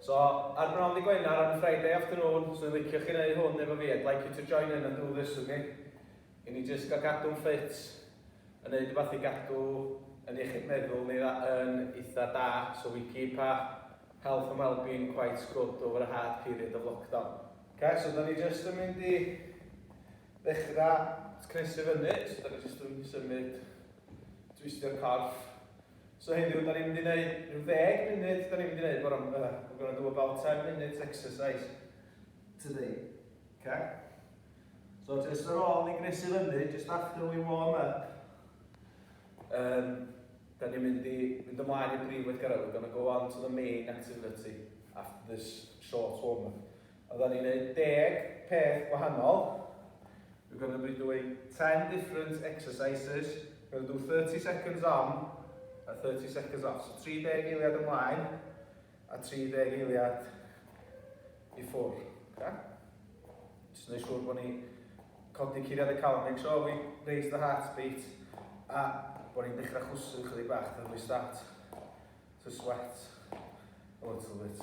So, ar bnawn ddy Gwener, on a Friday afternoon, os oedd licio chi neu hwn efo fi, I'd like you to join in and do this with me. I ni jyst gael gadw'n ffit, yn neud rhywbeth i gadw yn iechyd meddwl ni yn eitha da, so we keep our health and well-being quite good over a hard period of lockdown. Oce, so da ni jyst yn mynd i ddechrau cnesu fyny, so da ni jyst yn symud, twistio'r corff, So heddiw, da ni'n mynd i wneud rhyw ddeg munud, da ni'n mynd i wneud bore, uh, we're going to do about 10 minutes exercise today. Okay? So just ar ôl ni gnesu fyny, just after we warm up, um, da ni'n mynd i mynd ymlaen i brif weithgaredd, we're going to go on to the main activity after this short warm up. Oeddan ni'n neud deg peth gwahanol. We're gonna be doing ten different exercises. We're gonna do thirty seconds on a thirty seconds off. So tri deg eiliad ymlaen a tri deg eiliad i ffwrdd. Okay? Just yn ei siŵr bod ni codi curiad y calon. Make sure we raise the heartbeat. A bod ni'n dechrau chwsu chydig bach. Then we start to sweat a little bit.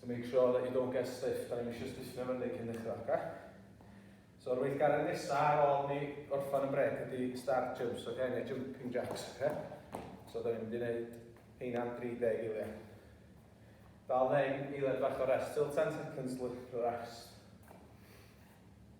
So make sure that you don't get stiff, da ni'n eisiau stiffio fyny cyn dechrau, oce? So yr weithgaredd nesaf ar ôl ni orffan y brec ydy start jumps, oce? Neu jumping jacks, oce? So da ni'n mynd i wneud heina am 30 eiliad. Dal ddeng, eiliad fach o rest, still 10 seconds left for rest.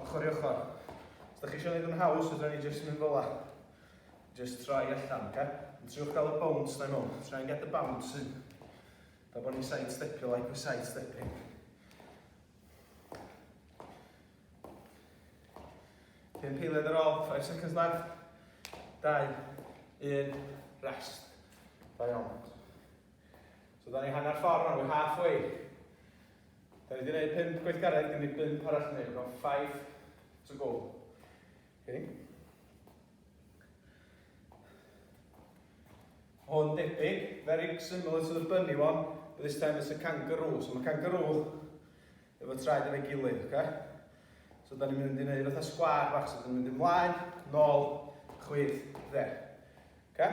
Ochr i ochr. Os da chi eisiau gwneud yn haws, fydra ni jyst mynd fel la. Jyst troi allan, oce? Yn triwch gael y bounce na i mewn. Try and get the bounce in. Da bod ni'n side stepio like we're side stepping. Cyn peiled ar ôl, 5 seconds left. 2, 1, rest. Da iawn. So da ni hanner ffordd nawr, we're halfway. Da ni wedi gwneud pimp gweithgaredd, gen i bimp arall yn ei, no, five to go. Okay. Hwn debyg, very similar to the bunny one, but this time it's a kangaroo. So mae kangaroo efo traed efo'i gilydd, okay? So da ni'n mynd i wneud fatha sgwar bach, so da ni'n mynd i mlaen, nôl, chwith, dde. Okay?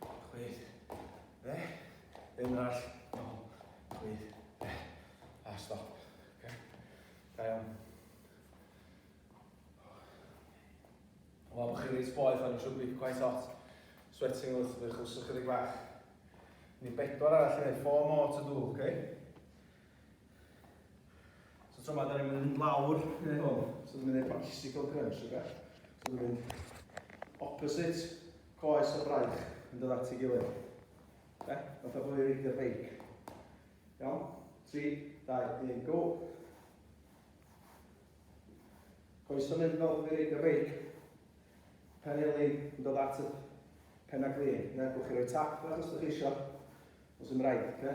Chwith. Fe. Un arall. Nol. Chwith. Fe. A stop. Okay. Da iawn. Wel, bod chi'n reit boeth o'n siwbi, quite hot. Sweating wrth ydych chwrs ychydig bach. Ni bedwar arall i wneud, four more to do, okay? So tro ma, da ni'n mynd lawr neu hwn. So dwi'n mynd i'r bicycle crunch, oce? So dwi'n mynd opposite coes o braich yn dod at ei gilydd. Oce? Fatha bod i'n reidio beic. Iawn? 3, 2, 1, go! Coes o'n mynd fel bod i'n reidio beic. Pen elin yn dod at y pen a glin. Neu gwch chi roi tap fel os ydych chi eisiau. Os yw'n rhaid, oce?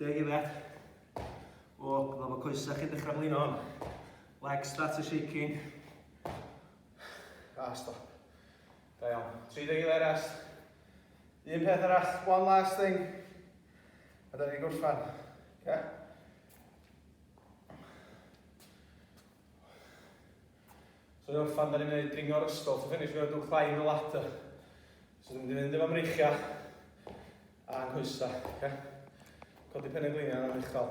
Deg i fe. O, dyma fo coesau chi'n dechrau blin hon. Legs start to shaking. A, stop. Da iawn. 30 i fe rest. Un peth arall, one last thing. A da ni'n gorffan. Oce? Okay? So ni'n orffan, da ni'n gwneud dringo'r ysgol. So finish, we're going to do climb the ladder. So dwi'n mynd i fynd efo mreichiau. A coesau, oce? Codi pen y gliniau yna'n uchel.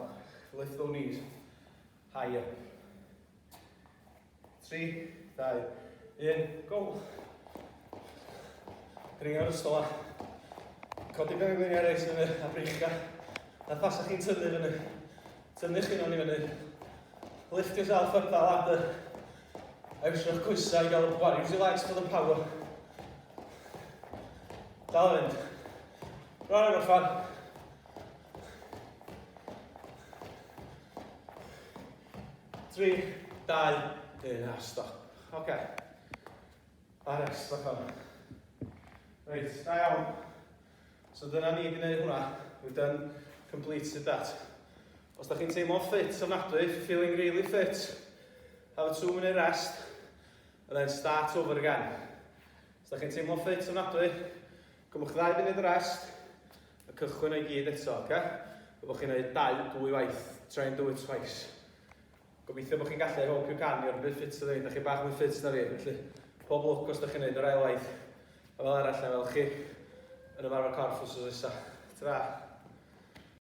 Lift those knees. High up. 3, 2, 1, go! Dringio'r ystol a codi pen y gliniau reis fyny a breichio. Na pasach chi'n tyfu fyny. Tynnu chi mewn i fyny. Lift yourself up that ladder. A iwsio'ch coesau i gael y pwar. Use your legs for the power. Dal yn fynd. Rhaid o'r fan. Tri, dau, un, a stop. Oce. Okay. A rest, o'r fan. Reit, da iawn. So dyna ni wedi gwneud hwnna. We've done completed that. Os da chi'n teimlo ffit ofnadwy, feeling really fit, have a two minute rest, and then start over again. Os da chi'n teimlo ffit ofnadwy, cymwch ddau funud rest, a cychwyn o'i gyd eto, oce? Okay? Fe bod chi'n gwneud dau, dwy waith. Try and do it twice. Gobeithio bod chi'n gallu ei helpu can i, ond bit ffit ydw i, da chi bach mwy ffit na fi, felly pob lwc os da chi'n neud yr ail waith. A fel arall, na fel chi, yn ymarfer corff wrth wrth isa. Tra!